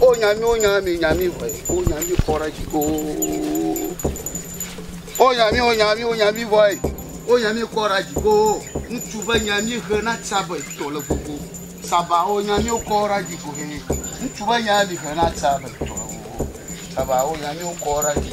O nya mi, o nya mi, nya mi vɔe, o nya mi kɔ ɖe dzi koo. O nya mi, o nya mi, o nya mi vɔe, o nya mi kɔ ɖe dzi koo. Ŋutsu be nya mi he na tsaba etɔ le gbogbo. Saba o nya mi kɔ ɖe dzi ko he. Ŋutsu be nya mi he na tsaba etɔ le gbogbo. Saba o nya mi kɔ ɖe dzi.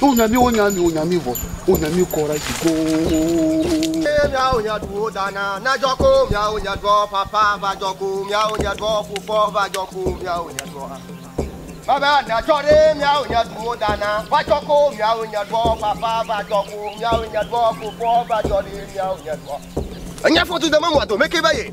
Wo nya mi, wo nya mi, wo nya mi vɔ, wo nya mi kɔ ɖe dzi goo. Eye miawo nye ɖuwo dana na dzɔ ko miawo nye ɖuɔ papa va dzɔ ko miawo nye ɖuɔ fofɔ va dzɔ ko miawo nye ɖuɔ. Baba na dzɔ ɖe miawo nye ɖuwo dana va dzɔ ko miawo nye ɖuɔ papa va dzɔ ko miawo nye ɖuɔ fofɔ va dzɔ ɖe miawo nye ɖuɔ. Enye fɔdu de me mɔa dome ke va ye.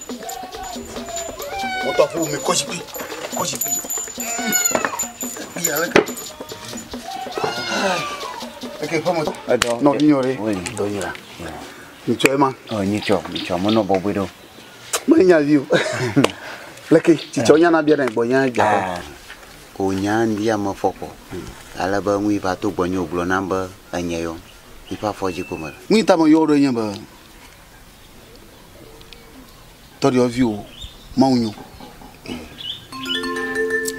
Wotɔ ƒo mi kɔ zikpui, kɔ zikpui. Zikpui ale ke. Eke ƒe mɔtɔ. Edɔ. Nɔ mi yɔre. Oui. Dɔ yira. Nyitsɔ ye ma. Ɔ nyitsɔ, nyitsɔ mo nɔ bɔbɔe ɖo. Mo nya vi o. Leke tsitsɔ nya na bia na gbɔ nya bia. Ah. O nya ndi ya me fɔkɔ. Hmm. Ale be nui va to gbɔ nyo gblɔ nam be enye yo. Ifa fɔji ko me. Nui ta me yɔre nye be. tɔ ɖe ɔvi o mawu nyo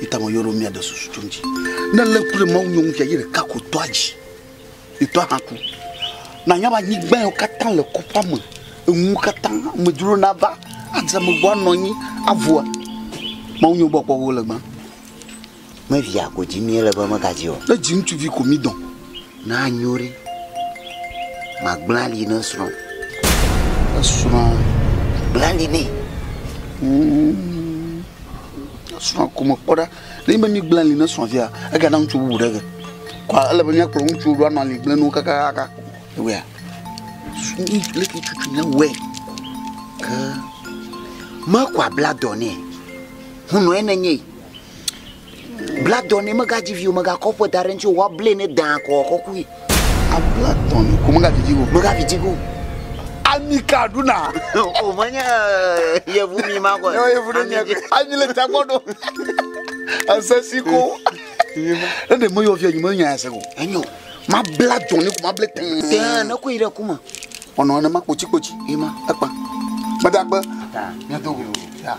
ita mo yoro mia de susu tso ŋdzi ne lé ku ɖe mawu nyo ŋu fia yi ɖeka ko tɔ adzi itɔ hã ku na nya ba nyigba yɔ katã le kɔƒa me eŋu katã amedzro na va adze me gbɔ anɔ anyi avua mawu nyo gbɔ kpɔ wo le gbã Me via ko dzi mí le be mega dzi o. Ne dzi ŋutsuvi ko mí dɔn. Na nyo ɖi ma gblẽ ali ne srɔ̃. Esrɔ̃ gblẽ ali ne. Esrɔ̃ ko me kpɔ ɖa. Ne mi be mi gblẽ ali ne srɔ̃ via ega na ŋutsu bubu ɖe ge. Kwa ele be mía kplɔ ŋutsu ɖo anɔ ali gblẽ nu kakaka. Ewea. Sumi le ki tutu ne wɛ. Ke. Ma kwa bla dɔ ne. Hunɔ ene nye. Bla dɔ nɛ, megadzi vi o, megakɔ ƒe da ɖe eŋuti o, woablae ne dãa ko wòakɔ kui. Abla dɔ nɛ ko megavi dzi ge o. Megavi dzi ge o. Ami ka ɖuna? O menye eh, yevu mi ma kɔe. Yɔ yevu ɖe Ami mia dzi. ko. Ami le ta gbɔ ɖo. Esesi ko. Ne ɖe meyɔ via nyi me nya ya se o. Enyo. Mabla dɔ nɛ ko mablae tẽe. Tẽe ne kui ɖe ku me. Ɔnɔ nenema kpotsikpotsi. Ema. Ekpa. Meda kpe. Taa. Mia do go. Taa.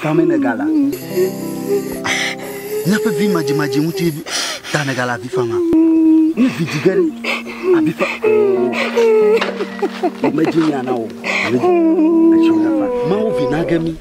Fame ne gala. Nyaƒe vi madzi madzi ŋuti ta ne gala vi fama. Ne vi dzi gere abi fa. Ame dzi nyana o. Ame dzi. Etsɔ na fa. Mawu vi na gemi.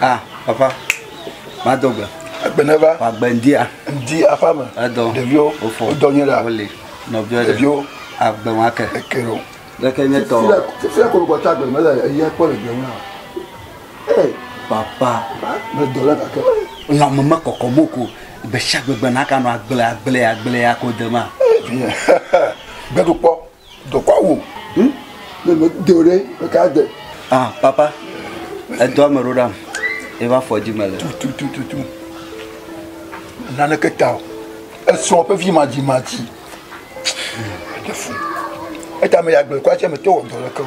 Ah, papa, ma do gbe. Egbe ne va. Wa gbe ŋdi a. Ŋdi afa me. Edɔ. Ɖeviwo. Ofo. Wodɔ nye la. Wole. Nɔviwo. Ɖeviwo. Agbe wa ke. Eke ɖo. Ɖeke nye tɔ. Fia kolo kɔta gbe mele eyi ekpɔ le gbe ŋu. Papa, lãme mekɔkɔm o ko gbe sia gbe gbe nakanɔ agble agble agble ya ko dema. Gbe ɖo kpɔ, dɔkɔ awu. Hm? Ne me de o ɖe, me ka de. Ah, papa, edɔ ame ɖo ɖam. Eva fɔ dzi me le. Tu tu tu tu. Naneke ta o. Esrɔ̃ ƒe vi madzi madzi. Eɖe fu. Eta me ya gbe kwa tse me to wɔ dɔ leke o.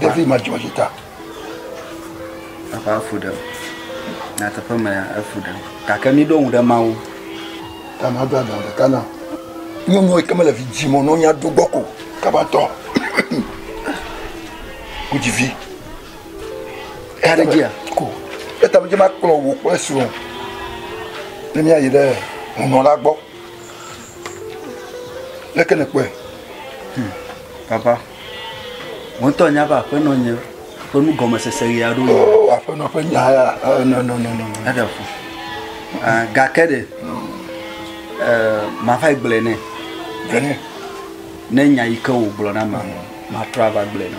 Ɖevi ma dzɔ dzi ta. Papa efu ɖem. Na teƒe me ya efu ɖem. Gake mi ɖo ŋu ɖe Mawu. Ta ma do agba ɖeka na. Nyɔnu yi ke mele vi dzi mɔ nɔnya do gbɔ ko. Kabatɔ. Wodzi vi. eya ɖe dzia ko eta me dze ma kplɔ wò kple srɔ̃ ne míayi ɖe hunɔla gbɔ leke ne kpɔe hmm, papa wò ŋutɔ nya be aƒenɔ nye ƒe nu gɔmesese ɣi aɖo yi oh, aƒenɔ ƒe nya ya eh, nɔnɔnɔnɔ eɖe fu eh, gake ɖe eh, mava gblɔe nɛ gblɔe nɛ ne nya yi ke wògblɔ na ma matrɔ ava gblɔe na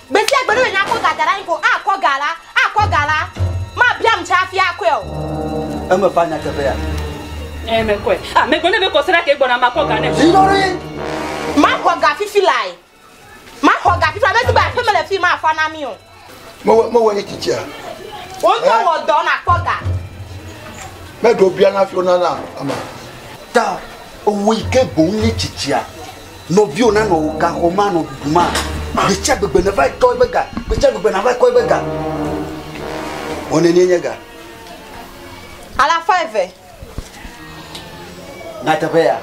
Gbe sia gbe ne menya kɔ ga da ɖe anyi ko akɔ ga la, akɔ ga la, mabiam tsɛ hafi akɔe o. Eme va nyateƒea? Ɛɛ, mekɔe. A Megblɔ nɛ be, Kɔ se ɖa kee gbɔna makɔ ga nɛ. Dzi ɖoɖoe. Maxɔ ga fifi lae. Maxɔ ga fifi la. Medi be aƒeme le fii mafa na mí o. Mewɔ, mewɔ eyi tsitsia? Wò ŋutɔ wɔ dɔ nàkpɔ ga. Meɖo biana hafi wona na ama. Ta, ewɔe ke boŋ nye tsitsia. Nɔviwò nanɔ wò gaxɔ me anɔ ɖuɖu ma. Gbetsia gbegbe nèva yi kɔ eƒe ga. Gbetsia gbegbe nàva yi kɔ eƒe ga. Wɔ nenie nye ga. Alafa eve. Nyateƒe ya.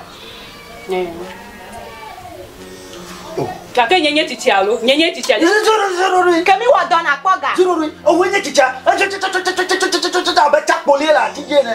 Gake nye nye tsitsia alo? Nye nye tsitsia. Ke mi wɔ dɔ nakpɔ ga. Ewoe nye tsitsia. Abe tsakpolie le ati dzi ene.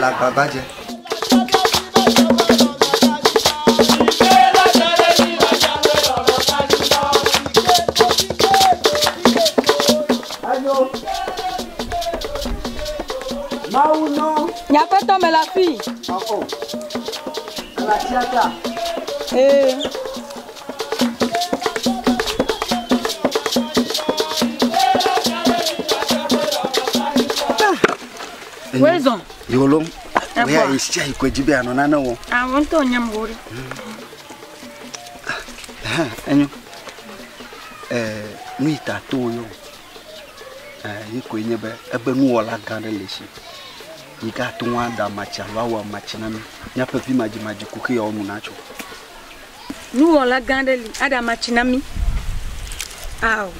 le agbagba dze. Mawu nɔ. Nyakpɛtɔ me la fi. Ɔɔ. Ela tia ta. Ee. Wezɔ. Yolo. Egbɔ. Eya esia yi kɔdzi be anɔ nane wɔ. Awɔ ŋutɔ nye mo ɖe. Ha enyo. Eh nu yi ta to yo. Eh yi koe nye be ebe nuwɔla gã ɖe le si. Yi ga to ŋu ada matsi alo awɔ matsi na mi. Míaƒe vi madzi madzi ku ke yɔ nu natso. Nuwɔla gã aɖe li aɖe ama tsi na mí. Ao,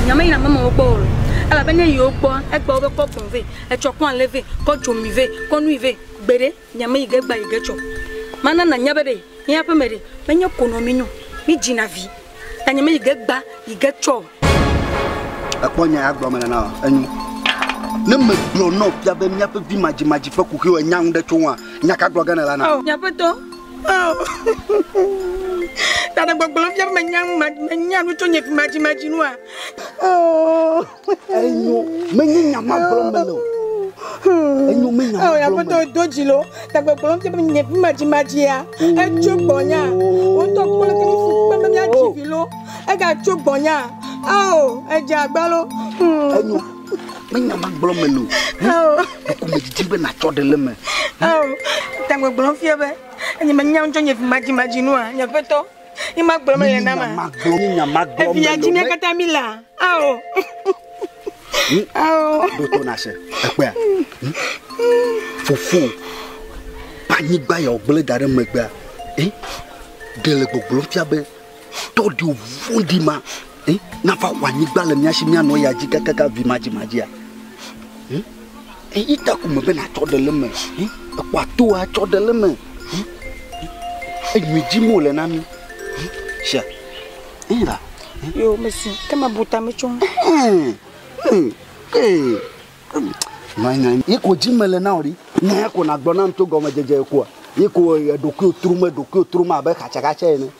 nya meyina amemewo gbɔ o, elabe ne yi wo gbɔa, egbe wo be kɔ gbɔ̃ vɛ, etsɔ kɔ alẽ vɛ, kɔ dzomi vɛ, kɔ nui vɛ. Gbeɖe, nya meyi ge gbea yi ge tsɔ. Mana nànya be ɖe míaƒe me ɖe menye konɔ mínyo mídzina vi. Tanye me yige gba yige tsɔ. Ekpɔ nya ya gblɔ me nana o. Enyu. Ne me gblɔ nɔ fia be míaƒe vi madzi madzi ƒe kuxi o nya ŋu ɖe tso ŋua nya ka gblɔ ge ne la na. Oh, nyaƒetɔ. Oh. Tane gbɔgblɔ fia be menya ŋu menya nu tso nye vi madzi madzi nua. Oh. Enyo menye nya ma gblɔm mele o. Enyo menye nya ma gblɔm mele. Aƒetɔ do dzi lo. Tagbegblɔ ke be nye madzi madzi ya. Etso gbɔnya. Wotɔ kple ke fu kpe be mia dzi vi lo. Ega tso gbɔnya. Ao edze agbalo. Enyo menye nya ma gblɔm mele o. Ao. Eko me didi be na tsɔ de le me. Ao tagbegblɔ fia be enye menye nya ŋjɔ nye madzi madzi nua. Nye aƒetɔ. Ni magblɔ me le na ma. Magblɔ mi nya magblɔ me. Eviya dzi mi kata mi la. Ao. Ao. Do to na se. Ekpea. Fofo. Panyigba ya ogble da ɖe megbea. Eh? Ɖe le gbogblom fia be tɔ ɖi vɔɖi ma. Eh? Nafa xɔ anyigba le mia si mia nɔ ya dzi kakaka vi madzi madzia. Eh? Eyi ta ko mebe natsɔ ɖe le eme yi ekpɔ ato atsɔ ɖe le eme yi enyui dim wole na mi yi se eyi la. Yo mesi ke me bu ta me tso. Yi ko dzi mele na o ɖi ne ko nagblɔ nam tso gɔmedzedze koa yi ko eɖokuiwo trom eɖokuiwo trom abe xatsaxatsa ene.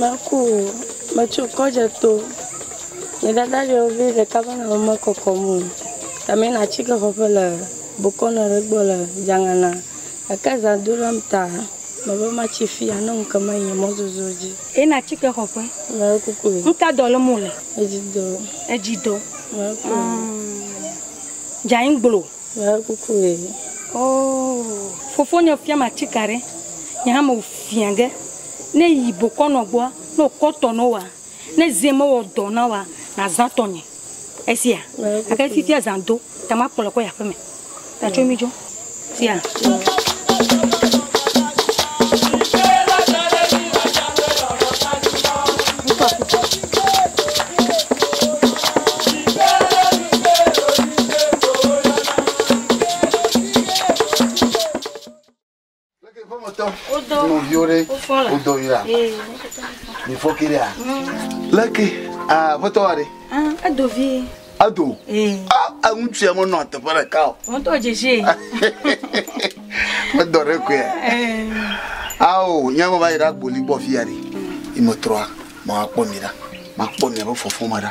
Meku o, metso kɔ dze to. Nye dada ɖe wo vi ɖeka va nɔ me kɔkɔm o. Ta me na atike xɔ ƒe le bokɔ nɔ ɖe gbɔ le dzangana. Eke za do ɖe m ta me be ma tsi fia ne ŋu ke me yi mɔ zozo dzi. E na atike xɔ ƒe. Me kuku o. Ŋu ka dɔ le mo le? Edzi dɔ. Edzi dɔ. Me kuku o. Dza yin gblo. Me kuku o. Oh. Fofo nye fia ma atike ɖe. Nye hã me fia ge. Ne yi bokɔ nɔ gbɔa, ne wòkɔ tɔ nɔ wòa, ne zẽ mewɔ dɔ na wòa, nàzã tɔnye. Esia? Gake fifia zã do, ta makpɔ le kɔ yi aƒeme. Ta tso mí dzo. Sia. leke aƒetɔ wa ɖe. edo vi. edo. eŋutsu ya menɔ teƒe ɖeka o. wọ́n tó dzedze. medɔ ɖe koe. awo nyama va yi ɖe agboli gbɔ fi ya ɖe. imetrɔa ma kpɔ mi ɖa ma kpɔ mi abe fɔfɔ ma ɖa.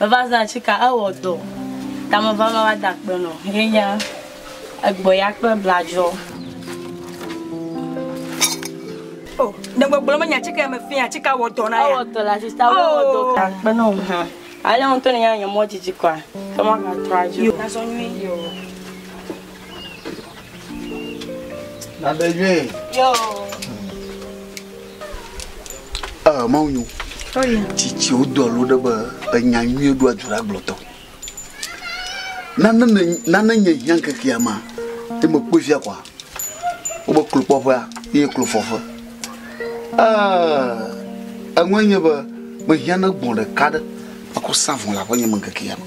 Meva zã tsika ewɔ dɔ ta meva ma va da kpe nɔ ye nye egbɔ ya kple bladzɔ. O ne gbɔgblɔ me nya tsika ya me fia tsika wɔ dɔ na ya. Ewɔ dɔ la sista wo wɔ dɔ ka kpe nɔ ha. Ale ŋutɔ ne nya nye mɔ dzidzi kɔa ke ma ka trɔ adzi o. Yo na zɔ nyui. Nade yue. Yo. Eh, mau nyu. Oye. Tsitsi wo do alo ɖe be enya nyuie ɖo adzura gblɔtɔ. Nane ne nane nye hiã kekea ma. Te me kpɔ via kwa. Wo be klo kpɔƒea ye klo fɔƒe. Eh, enwe nye be me hiã ne gbɔn ɖeka ɖe. Aku sa vɔn la ƒe nye me kekea ma.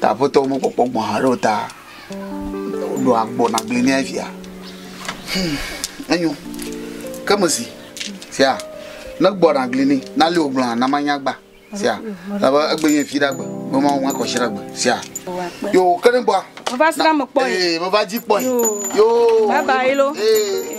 Ta aƒetɔwo mekpɔkpɔ gbɔ̃ haɖe o ta ɖo agbɔ nagblɔe nɛ fia. Hum, enyo. Ke mesi, sia, ne gbɔ nagli ni, nali wò gblɔa, na manya gba, sia, elabe egbe nye fi ɖagbe, be Mawu ŋu akɔshi ɖagbe, sia. Yo, ke ne gbɔa, Meva srã me kpɔe. ee, meva dzi kpɔe. Yo. Bye bye lo. Ee.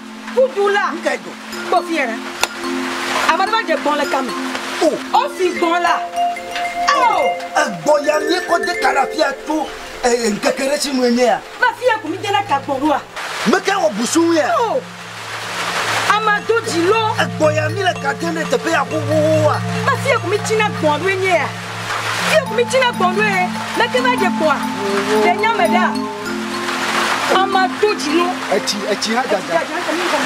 Kudu la. Nuka egbɔ? Kpɔ fia ɖa. Ame aɖe va dze gbɔ̃ le ka me. O. Osi gbɔ̃ la. Ao! Egbɔ ya míekɔ de ka ɖe afia tso ŋkeke ɖe si nue míeya. Be fia ko míde ɖe ka gbɔ ɖoa? Meka wɔ busuwuia? O! Amea do dzi loo. Egbɔ ya míle ka dem ɖe teƒe ya xoxoxoa? Be fia ko mítsina gbɔ̃ ɖoe míeya. Fia mi tsi na gbɔn ɖoe. Leke va dze kpɔa? Le nya me ɖa. Ama do dzi no. Etsi etsi ha dada. Etsi dada mi kɔm.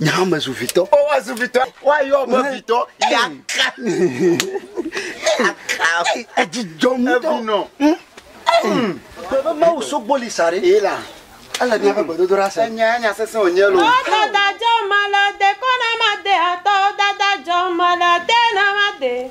Nye hã mezu vitɔ. O woazu vitɔ. Woayɔ be vitɔ yaka. Yaka. Edzidɔ ŋutɔ. Evinɔ. Hmm? Hmm. Bebe mawu sogboli sa ɖe. Ee la. Ele míaƒe gbedodoɖa se. Enya enya sesẽ wònye lo. O dada dzɔ mele de kɔ na made atɔ dada dzɔ mele de na made.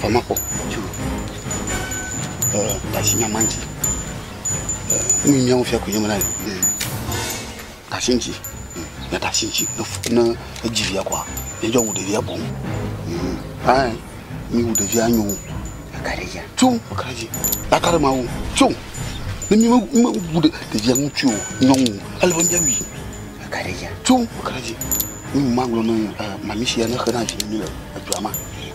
famakpɔ tso tasinyama ŋuti nu nyia wofia ko nyemena le tasi ŋuti na tasi ŋuti ne edzi via kɔa yedzɔ wu ɖevia boŋ ɛn mi wu ɖevia nyo tso kaɖedzi akaɖe ma wu tso ne mi mewu ɖevia ŋuti o nyɔnu ele be miawui tso kaɖedzi mi ma gblɔ ne mami sia ne xe na vi mi le edua ma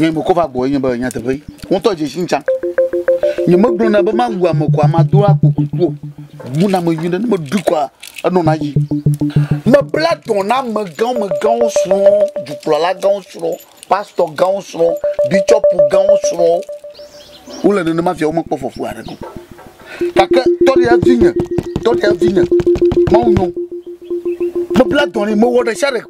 Nye me kɔva gbɔ enye be nyateƒe ŋutɔ dze si ŋtsã. Nye megblɔna be mawu ame kɔa mado akpo kuku o. Buna ame nyuie ɖe ne meɖui kɔa enɔna dzi. Mebla dɔ na amegãwo megãwo srɔ̃, dukplɔla gãwo srɔ̃, pastɔ gãwo srɔ̃, bitsɔpu gãwo srɔ̃. Wole nenema fia womekpɔ fɔku aɖeke o. Gake tɔ ɖe evinye, tɔ ɖe evinye, mawu nyo. Mebla dɔ nɛ, mewɔ ɖe sia ɖe.